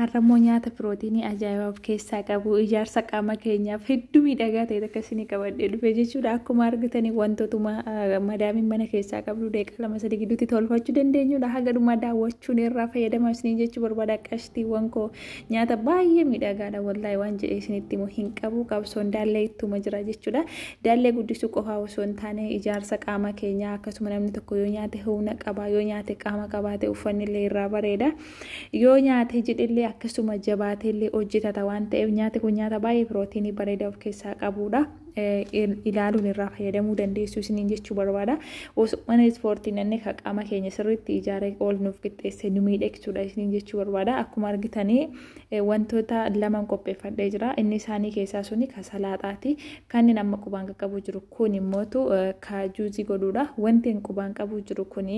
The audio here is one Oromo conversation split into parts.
Arrammoo nyaata pirootiinii ajaa'ibaa of keessaa qabu ijaarsa qaama keenyaaf hedduu miidhagaa ta'e takka isinii qabadhee dhufe jechuudha. Akkuma argitanii wantootuma madaamiin mana keessaa qabdu deeqa lama sadii gidduutti tolfachuu dandeenyudha. Haga dhumaa daawwachuun irraa fayyadamaa isiniin jechuu barbaada qashtiiwwan koo. Nyaata baay'ee miidhagaadha wallaahi waan jedhee isinitti immoo hin qabu qabsoon daallee ittuma jira jechuudha. Daallee guddisuu qofaa osoo hin taane ijaarsa qaama keenyaa akkasuma namni tokko yoo nyaate humna qaba yoo nyaate qaama qabaate uffanni illee irraa bareeda. Yoo nyaatee jedhellee akkasuma jabaateellee hojjetata waan ta'eef nyaati kun nyaata baay'ee pirootiinii bareedaa of keessaa qabuudha. ilaaluun irraa fayyadamuu dandeessu isiniin jechuu barbaada. Osumana ispoortii nanne ka qaama keenya sirriitti ijaaree ol nuuf qixxeesse nu miidhagsuudha isiniin jechuu barbaada. Akkuma argitanii wantoota laman qopheeffadhee jira. Inni isaanii keessaa suni ka salaaxaati. Kanneen amma qubaan qaqqabu jiru kun immootu ka juuzii godhuudha. Wanti qubaan qabu jiru kun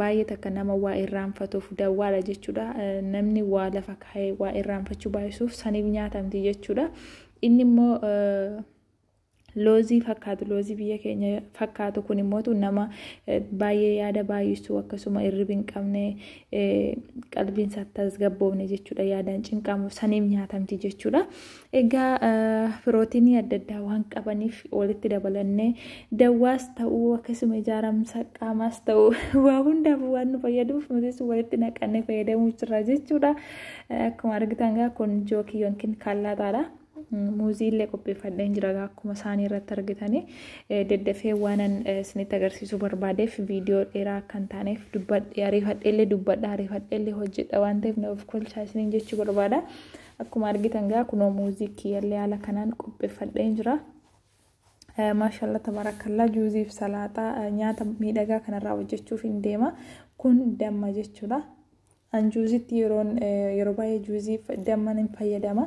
Baay'ee takka nama waa irraanfatuuf dawwaadha jechuudha. Namni waa lafa kaa'ee waa irraanfachuu baay'isuuf saniif nyaatamti jechuudha. Inni immoo loozii fakkaatu loozii biyya keenya fakkaatu kun immoo nama baay'ee yaada baay'isuu akkasuma irribi hin qabne qalbiin isaa tasgabboofne jechuudha yaadaan cinqamu saniif nyaatamti jechuudha. Egaa pirootinii adda addaa waan qabaniif walitti dabalannee dawwaas ta'uu akkasuma ijaaramsa qaamaas ta'uu waa hundaaf waan nu fayyaduuf nutis walitti naqannee fayyadamuu jirra jechuudha. Akkuma argitan gaa kun jookii yookiin kaallaataadha. Muuzii illee qopheeffadheen jira gaa akkuma isaanii irratti argitanii daddafee waanan isinitti agarsiisuu barbaadeef viidiyoo dheeraa akka hin taaneef dubbadhe ariifadhee illee dubbadha ariifadhee illee hojjedha waan ta'eef na of kolchaa isiniin jechuu barbaada. Akkuma argitan gaa kunoo muuzii kiyyallee haala kanaan qopheffadheen jira. Maashaallah tabaarakallaa juuziif salaaxaa nyaata miidhagaa kanarraa hojjechuuf hin deema. Kun damma jechuudha. An juuzitti yeroon yeroo baay'ee juuziif damman hin fayyadama.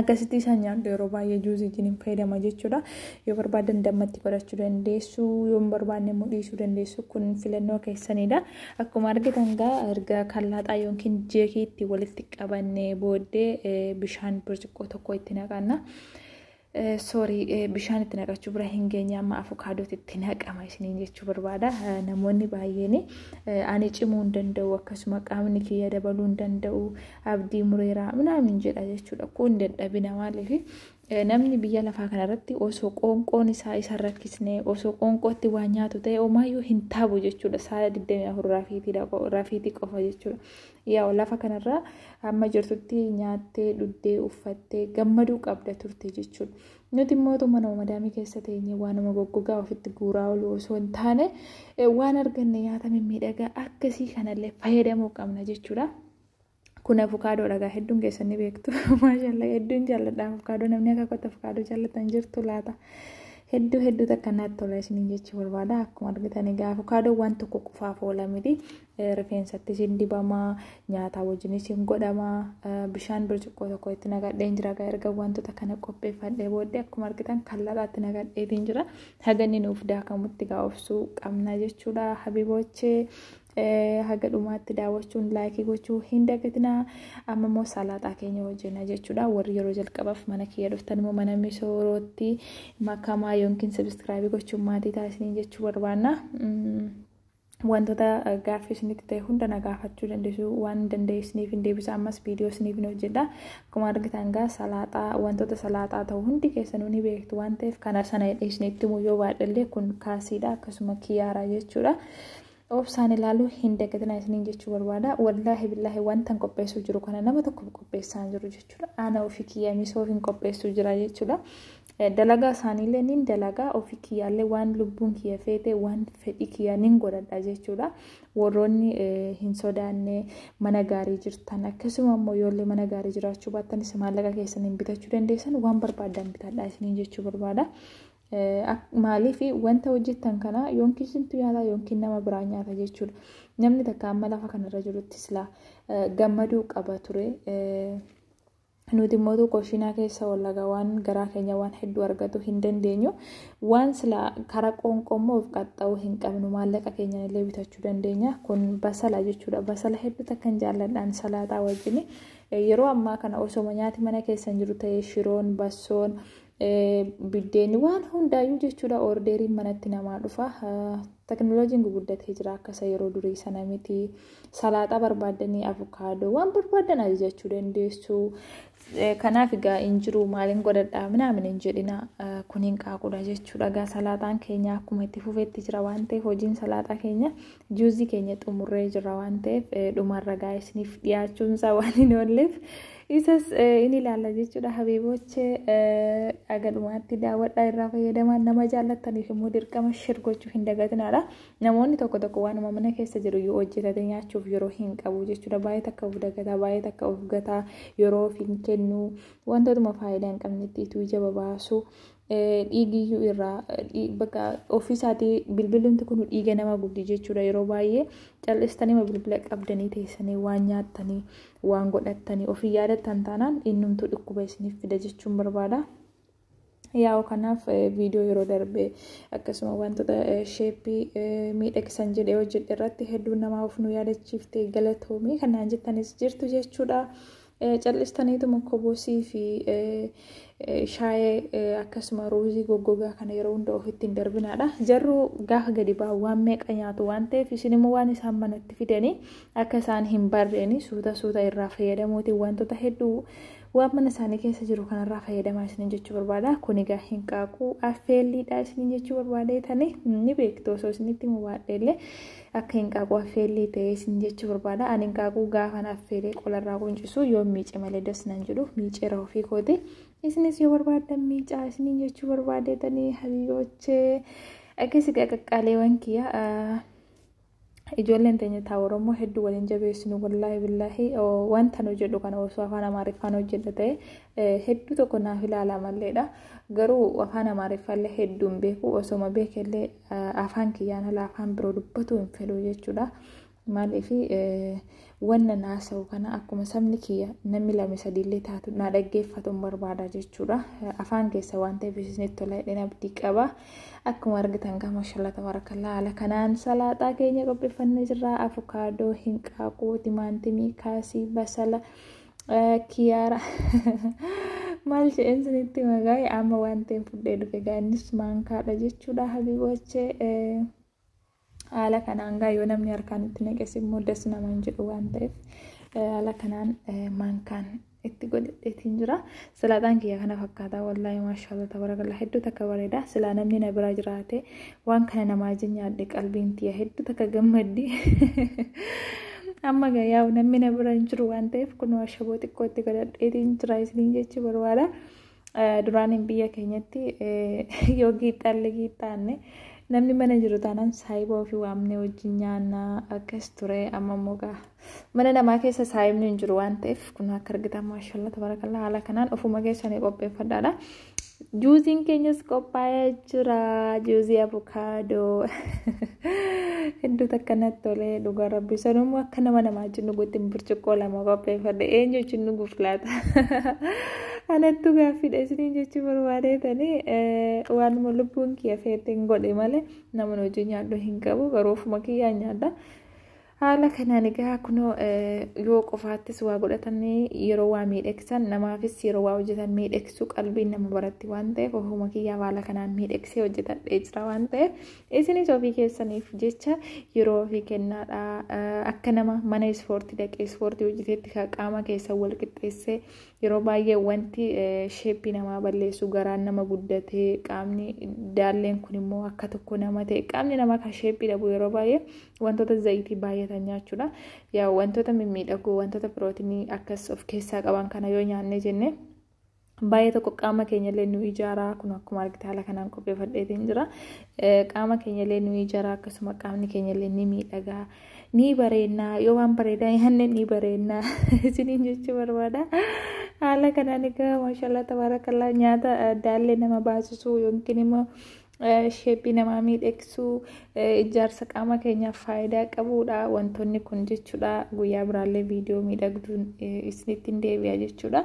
Akkasitti isaan nyaadhu yeroo baay'ee juuzii wajjin hin fayyadama jechuudha. Yoo barbaadan dammatti godhachuu dandeessu, yoo hin barbaanne immoo dhiisuu dandeessu. Kun filannoo keessanidha. Akkuma argitan egaa erga kan laaxaa yookiin jeekii itti walitti qabannee booddee bishaan birciqqoo tokko itti naqanna. Soorii bishaan itti naqachuu bira hin geenye amma afukaadootti itti naqama isiniin jechuu barbaada. Namoonni baay'een ani cimuu hin danda'u akkasuma qaamni kiyya dabaluu hin danda'u abdii mureeraa minaamin jedha jechuudha. Kun dadhabina maaliif Namni biyya lafaa kana irratti osoo qoonqoon isaa isa hin rakkisne, osoo qoonqootti waa nyaatu ta'e homaayyuu hin taabu jechuudha. Saala 24 rafiitiidha, rafiitii qofa jechuudha. Yaa lafa kanarraa amma jirtutti nyaattee, dhuddee, uffattee gammaduu qabda turte jechuudha. Nuti immoo otoo mana madaamii keessa teenye waanuma goggogaa ofitti guuraa oolu osoo hin taane waan arganne nyaata mimmiidhagaa akkasii kanallee fayyadamuu qabna jechuudha. Kun avukaadoo dhagaa hedduun keessan ni beektu. Maashaallah hedduun jaalladha avukaadoo namni akka kootti avukaadoo jaallatan jirtu laata. Hedduu hedduu takka naatti tola isiniin jechuu barbaada. Akkuma argitan egaa avukaadoo waan tokko qofaaf oola miti. Rifeensattis hin dibama, nyaataa wajjinis hin godhama. Bishaan bircuqqoo tokko itti nagadheen jira. Egaa erga wantoota kana qopheeffadhee booddee akkuma argitan kalladhaatti nagadheetiin jira. Haganni nuuf daakamutti egaa obsuu qabna jechuudha. Habibochee haga dhumaatti daawwachuun laayikii gochuu hin dagatinaa amma immoo salaaxaa keenya hojjenna jechuudha warri yeroo jalqabaaf mana kiyya dhuftan immoo mana misoorootti makamaa yookiin sabiskiraabii gochuun maatii taasisanii jechuu barbaanna. wantoota gaaffii isinitti ta'e hunda na gaafachuu dandeessu waan dandeessiniif hin deebisa ammas viidiyoo isiniif hin hojjedha akkuma argitan gaa salaaxaa wantoota salaaxaa ta'u hundi keessanuu ni beektu waan ta'eef kana sana isinitti immoo yoo baadhallee kun kaasiidha akkasuma kiyaaraa jechuudha. Obsaan ilaaluu hin dagatinaa isiniin jechuu barbaada. Wallaahi billaahi wantan qopheessuu jiru kana nama tokkoof qopheessaa hin jiru jechuudha. Ana ofii kiyya misoof hin qopheessuu jira jechuudha. Dalagaa isaaniillee nin dalagaa ofii kiyyaallee waan lubbuun kiyya feete waan fedhii kiyya nin godhadha jechuudha. Warroonni hin sodaanne mana gaarii jirtan akkasuma immoo yoollee mana gaarii jiraachuu baatanis maallaqa keessaniin bitachuu dandeessan waan barbaadan bitadhaa isiniin jechuu barbaada. Maaliif wanta hojjettan kana yookiin isintu nyaata yookiin nama biraa nyaata jechuudha. Namni takka amma lafa kanarra jirutti silaa gammaduu qaba ture. Nuti immoo tokko shiinaa keessa wallagaa waan garaa keenya waan hedduu argatu hin dandeenyu. Waan silaa karaa qoonqoo immoo of qaxxa'uu hin qabnu maallaqa keenyaan illee bitachuu dandeenya. Kun basala jechuudha. Basala hedduu takka hin jaalladhaan salaaxaa wajjin. Yeroo ammaa kana osoma nyaati mana keessan jiru ta'ee shiroon, bassoon, Biddeenni waan hundaayyuu jechuudha ordeeriin manatti namaa dhufa. Teknooloojiin guguddatee jira akka isa yeroo durii sana miti. Salaaxaa barbaaddanii avukaadoo waan barbaadan ajajachuu dandeessu. Kanaaf egaa hin jiru maaliin godhadhaa minaamin hin jedhina kun hin qaaqudha jechuudha. Egaa salaaxaan keenya akkuma itti fufetti jira waan ta'eef hojiin salaaxaa keenya juuzii keenya xumurree jira waan ta'eef dhumarra gaa'isniif dhiyaachuunsaa waan hin oolleef. Isas in ilaalla jechuudha habiibooche aga dhumaatti daawwadhaa irraa fayyadamaa nama jaallattaniif immoo dirqama shir gochuu hin dagatinaadha. Namoonni tokko tokko waanuma mana keessa jiru yoo hojjetate nyaachuuf yeroo hin qabu jechuudha. Baay'ee takka of dagataa, baay'ee takka of gataa, yeroo of hin kennu, wantootuma faayidaa hin qabnetti ituu ija babaasu. dhiigiyyuu irraa bakka ofiisaatii bilbilumti kun dhiiga nama gubdi jechuudha yeroo baay'ee cal'istanii bilbila qabdanii teessanii waan nyaattanii waan godhattanii ofii yaadattan taanaan innumtuu dhukkuba isiniif fida jechuun barbaada. Yaa'u kanaaf viidiyoo yeroo darbe akkasuma wantoota sheeppii miidhagsan jedhee hojjedhe irratti hedduun namaa of nu yaadachiifte galatoomii kanaan jettanis jirtu jechuudha. Cal'istaniituma kobosii fi shaayee akkasuma ruuzii goggogaa kana yeroo hunda ofitti hin darbinaadha. Jarruu gaafa gadi ba'an waan meeqa nyaatu waan ta'eef isin immoo waan isaan manatti fidanii akka isaan hin barreeni suuta suuta irraa fayyadamuutiin wantoota hedduu waan mana isaanii keessa jiru kanarraa fayyadamaa isiniin jechuu barbaada. Kun egaa hin qaaquu affeelliidha isiniin jechuu barbaadee tani ni beektu osoo isinitti mubaadhe illee Akka hinqaaquu affeellii ta'ee isin jechuu barbaada. Ani hinqaaquu gaafan affeelee qolarraa quncisu yoon miice malee das nan jedhu miiceera ofii kooti. Isinis yoo barbaaddan miicaa isiniin jechuu barbaadeetanii habiiboochee. Akkasii gaa qaqqaaleewwan kiyya ijoolleen teenya taa Oromoo hedduu waliin jabeessinu wallaahi billaahi wanta nu jedhu kana osoo afaan Amaariffaan hojjedha ta'e hedduu tokko naaf ilaala malleedha. Garuu afaan Amaariffaallee hedduun beeku osoma beekellee Afaan kiyyaan ala afaan biroo dubbatuu hin fedhu jechuudha. Maaliif wanna naasa'u kana akkuma sabni kiyya namni lame sadiillee taatu na dhaggeeffatuun barbaada jechuudha. Afaan keessa waan ta'eef isinitti tola jedheen abdii qaba. Akkuma argitan gaa mashallah tabarakallah haala kanaan salaaxaa keenya qopheeffannee jirra. Afukaadoo, hinqaaquu, timaantimii, kaasii, basala. Kiyaara maal jedheen sinitti magaa'e amma waan ta'een fudhee dhufe gaa innis maankaadha jechuudha habibochee haala kanaan gaa yoo namni harkaan itti naqes immoo das nama hin jedhu waan ta'eef haala kanaan maankaan itti godhadheetiin jira Salaaxaan kiyya kana fakkaata wallaahi maashaallah tabarakallah hedduu takka bareeda silaa namni na bira jiraate waan kana namaa wajjin nyaadhe qalbiin tiyya hedduu takka gammaddi amma gayyaa namni na bira hin jiru waan ta'eef kun ashaboo xiqqootti godhadheetiin jira isiniin jechuu barbaada duraaniin biyya keenyatti yoo giixxaalle giixxaanne namni mana jiru taanaan saayibaa ofii waamnee wajjin nyaanna akkas ture amma immoo gaa Mana namaa keessa saayimni hin jiru waan ta'eef kun akka argitan maashaallah tabarakallah haala kanaan ofuma keessanii qopheeffadhaadha. Juuziin keenyas qophaa'ee jira. Juuzii abukaadoo. Hedduu takka natti tolee dhugaa rabbi. Sanummoo akka nama namaa wajjin dhuguutti burcuqqoo lama qopheeffadhe. Eenyu wajjin dhuguuf laata? Anattu gaaffiidha isiniin jechuu barbaadee tanii waanuma lubbuun kiyya feeteen godhe malee namni hojii nyaadhu hin qabu garuu ofuma kiyyaa nyaadha. Haala kanaan egaa kunoo yoo qofaattis waa godhatan yeroo waa miidhagsan namaafis yeroo waa hojjetan miidhagsuu qalbiin nama baratti waan ta'eef ofuma kiyyaaf haala kanaan miidhagsee hojjetadhee jira waan ta'eef isinis ofii keessaniif jecha yeroo ofii kennaadha akka nama mana ispoortii dhaqee ispoortii hojjeteetti qaama keessan wal qixxeessee yeroo baay'ee wanti sheeppii namaa balleessu garaan nama guddatee qaamni daalleen kun immoo akka tokko nama ta'e qaamni namaa kan sheeppii dhabu yeroo baay'ee Wantoota zayitii baay'atan nyaachuudha. Yaa wantoota mimmiidhagoo wantoota pirootinii akkas of keessaa qaban kana yoo nyaannee jennee baay'ee tokko qaama keenyallee nu ijaaraa kun akkuma argite haala kanaan qopheeffadheetiin jira. Qaama keenyallee nu ijaaraa akkasuma qaamni keenyallee ni miidhagaa ni bareennaa yoo waan bareedaa nyaanne ni bareennaa isiniin jechuu barbaada. Haala kanaan egaa maashaallah tabaarakallaa nyaata daallee nama baasisuu yookiin immoo sheephii namaa miidhagsuu ijaarsa qaama keenyaaf faayidaa qabuudha wantoonni kun jechuudha guyyaa biraallee viidiyoo miidhagduun isinitti hin deebi'a jechuudha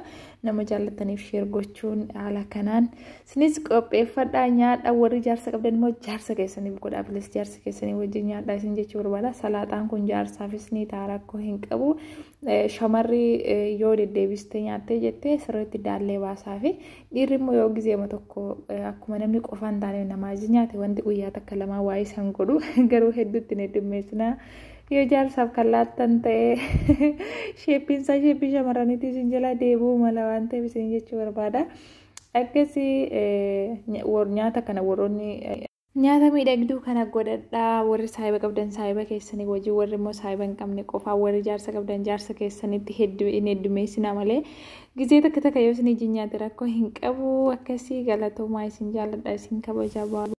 nama jaallataniif sheer gochuun haala kanaan isinis qopheeffadhaa nyaadha warri ijaarsa qabdan immoo ijaarsa keessaniif godhaa bilis ijaarsa keessanii wajjin nyaadha isin jechuu barbaada salaaxaan kun ijaarsaafis ni ta'a rakkoo hin qabu shamarri yoo deddeebistee nyaattee jettee sirriitti daallee baasaa fi Dhiirri immoo yoo gizeema tokko akkuma namni qofaa hin taane namaa iji nyaate wanti guyyaa takka lamaa waa'ee san godhu garuu hedduutti hin heddummeessina. Yoo jaarsaaf kan laattan ta'e sheeppiin isaa sheeppii shamarraniitii isin jalaa deebi'uu mala waan ta'eef isin jechuu barbaada. Akkasii nyaata kana warroonni Nyaata miidhagduu kana godhadhaa warri saahiba qabdan saahiba keessanii wajjin warri immoo saahiba hin qabne qofaa warri jaarsa qabdan jaarsa keessanitti hedduu hin heddumeessinaa malee gizee takka takka yoo isin ijji nyaate rakkoo hin qabu akkasii galatoomaa isin jaalladha isin kabajaa baaba.